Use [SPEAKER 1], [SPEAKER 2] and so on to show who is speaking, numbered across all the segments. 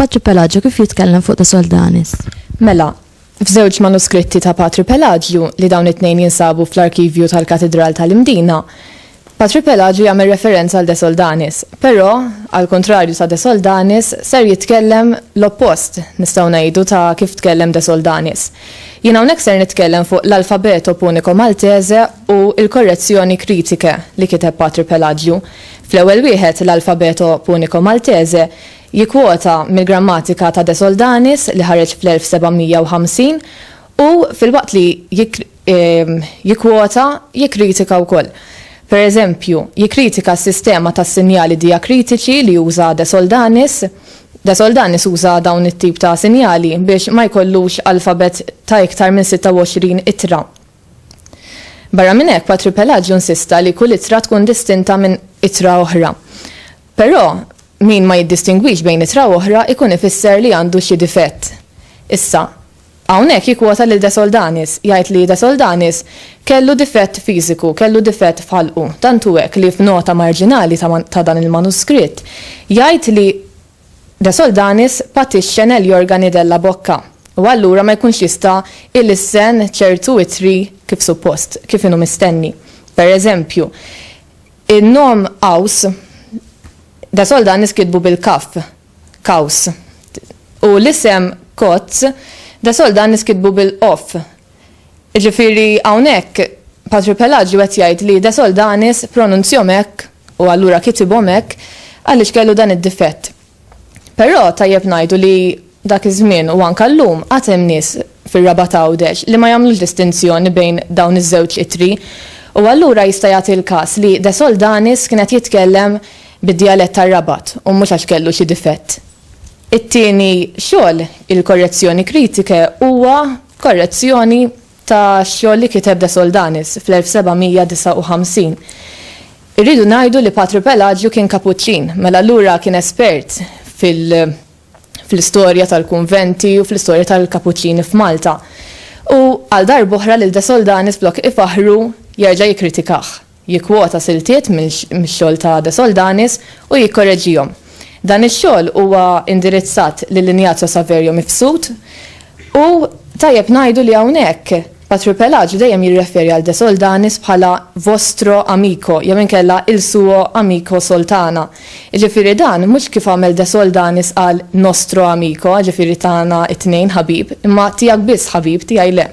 [SPEAKER 1] Patri Pelagio kif jitkellem fuq ta' Soldanis? Mela,
[SPEAKER 2] f'żewġ manuskritti ta' Patri Pelagio li dawn it-tnejn jinsabu fl-arkivju tal-Katidral tal-Imdina, Patri Pelaġju jagħmel referenza għal De Soldanis, però, għall-kuntrarju ta' De Soldanis, ser jitkellem l-oppost, nistgħu ngħidu, ta' kif tkellem De Soldanis. Jien hawnhekk ser nitkellem fuq l-Alfabeto Punico Maltese u l-Correzioni Critiche li kiteb Patri Pelaġju. Fl-ewwel wieħed, l-Alfabeto Punico Maltese, jikkwota mill-grammatika ta' De Soldanis li ħareġ fl-1750 u, filwaqt li jikkwota, jikkritika wkoll. Per eżempju, jikkritika s-sistema tas-sinjali dijakritiċi li uża De Soldanis. De Soldanis uża dawn it-tip ta' sinjali biex ma jkollux alfabet ta' iktar minn 26 ittra. Barra minn hekk, Patri Pelaġju nsista li kull ittra tkun distinta minn ittra oħra. Però, min ma jiddistingwix bejn ittra u oħra jkun ifisser li għandu xi difett. Issa, Hawnhekk jikkwota lil De Soldanis, jgħid li De Soldanis kellu difett fiżiku, kellu difett f'ħalqu, tant hu hekk li f'nota marġinali ta' ta' dan il-manuskritt jgħid li De Soldanis patixxa negli organi della bocca u allura ma jkunx jista' ilissen ċertu ittri kif suppost, kif inhu mistenni. Per eżempju, in-nom Qaws, De Soldanis kitbu bil-kaff, Kaws. U l-isem Kotz da sol dan niskitbu bil-qof. Iġifieri hawnhekk Patri Pelaġju qed jgħid li da sol danis pronunzjom hekk u allura kitibhom hekk għaliex kellu dan id-difett. Però tajjeb ngħidu li dak iż-żmien u anke llum għad hemm nies fir-Rabat Għawdex li ma jagħmlux distinzjoni bejn dawn iż-żewġ ittri u allura jista' jagħti l-każ li da sol danis kien qed jitkellem bid-djalett tar-Rabat u mhux għax kellu xi difett. It-tieni xogħol, il-Correzioni critiche, huwa korrezzjoni ta' xogħol li kiteb De Soldanis fl-1759. Irridu ngħidu li Patru Pelaġju kien Kapuċċin, mela allura kien espert fil-istorja tal-kunventi u fl-istorja tal-Kapuċċini f'Malta. U għal darb'oħra lil De Soldanis flok ifaħħru jerġa' jikkritikah. jikkwota siltiet mix-xogħol ta' De Soldanis u jikkoreġihom. Dan ix-xogħol huwa indirizzat lil Ignazio Saverio Mifsud u tajjeb ngħidu li hawnhekk Patripelaġu dejjem jirreferi għal De Soldanis bħala vostro amico jew inkella il suo amico Soltana, jiġifieri dan mhux kif għamel De Soldanis qal nostro amico jiġifieri tagħna t-tnejn ħabib, imma tiegħek biss ħabib, tiegħi le.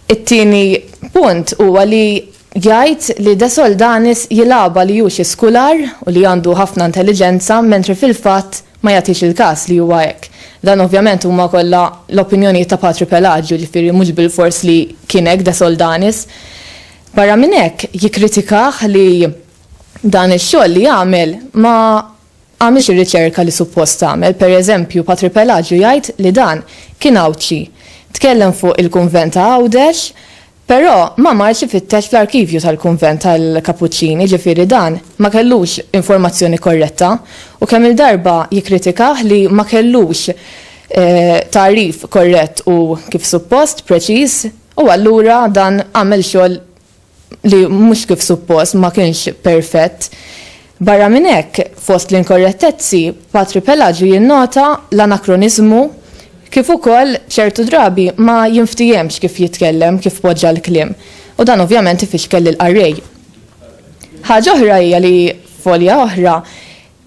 [SPEAKER 2] It-tieni punt huwa li jgħid li De Soldanis jilgħabha li hu xi skular u li għandu ħafna intelliġenza mentri fil-fatt ma jagħtix il-każ li huwa hekk. Dan ovvjament huma kollha l-opinjonijiet ta' Patri Pelaġju, jiġifieri mhux bilfors li kien hekk De Soldanis. Barra minn hekk jikkritikah li dan ix-xogħol li għamel ma għamilx ir-riċerka li suppost tagħmel, pereżempju Patri Pelaġju jgħid li dan kien Għawdxi, tkellem fuq il-kunvent ta' Għawdex, però ma marx ifittex fl-arkivju tal-kunvent tal-Kapuċċini, ġifieri dan ma kellux informazzjoni korretta u kemm-il darba jikkritikah li ma kellux tagħrif korrett u kif suppost, preċiż, u allura dan għamel xogħol li mhux kif suppost ma kienx perfett. Barra minn hekk, fost l-inkorrettezzi, Patri Pelaġju jinnota l-anakroniżmu kif ukoll ċertu drabi ma jinftiehemx kif jitkellem, kif poġġa l-kliem, u dan ovvjament ifixkel lill-qarrej. Ħaġa oħra hija li f'folja oħra,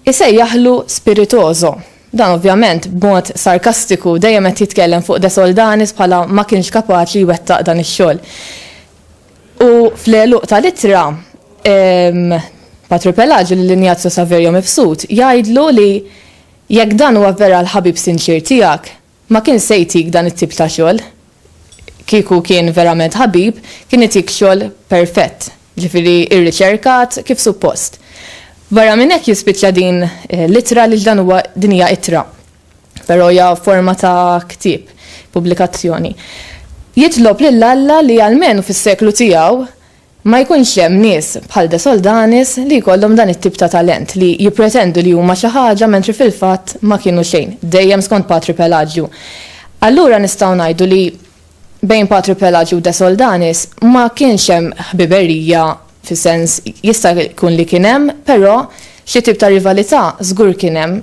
[SPEAKER 2] Isejjaħlu spiritoso. Dan ovvjament b'mod sarkastiku, dejjem qed jitkellem fuq De Soldanis bħala ma kienx kapaċi jwettaq dan ix-xogħol. U fl-għeluq tal-ittra, Patri Pelaġju lil Injazju Saverio mibsut jgħidlu li jekk dan huwa vera l-ħabib sinċier tiegħek, Ma kien se jtik dan it-tip ta' xogħol. Kieku kien verament ħabib, kien itik xogħol perfett, jiġifieri rriċerkat kif suppost. Barra minn hekk jispiċċa din l-ittra għaliex dan huwa din hija ittra, però hija forma ta' ktieb, pubblikazzjoni. Jitlob lil Alla li almenu fis-seklu tiegħu Ma jkunx hemm nies bħal De Soldanis li jkollhom dan it-tip ta' talent li jippretendu li huma xi ħaġa mentri fil-fatt ma kienu xejn, dejjem skont Patri Pelaġju. Allura nistgħu ngħidu li bejn Patri Pelaġju u De Soldanis ma kienx hemm ħbiberija fis-sens, jista' jkun li kien hemm, però xi tip ta' rivalità żgur kien hemm.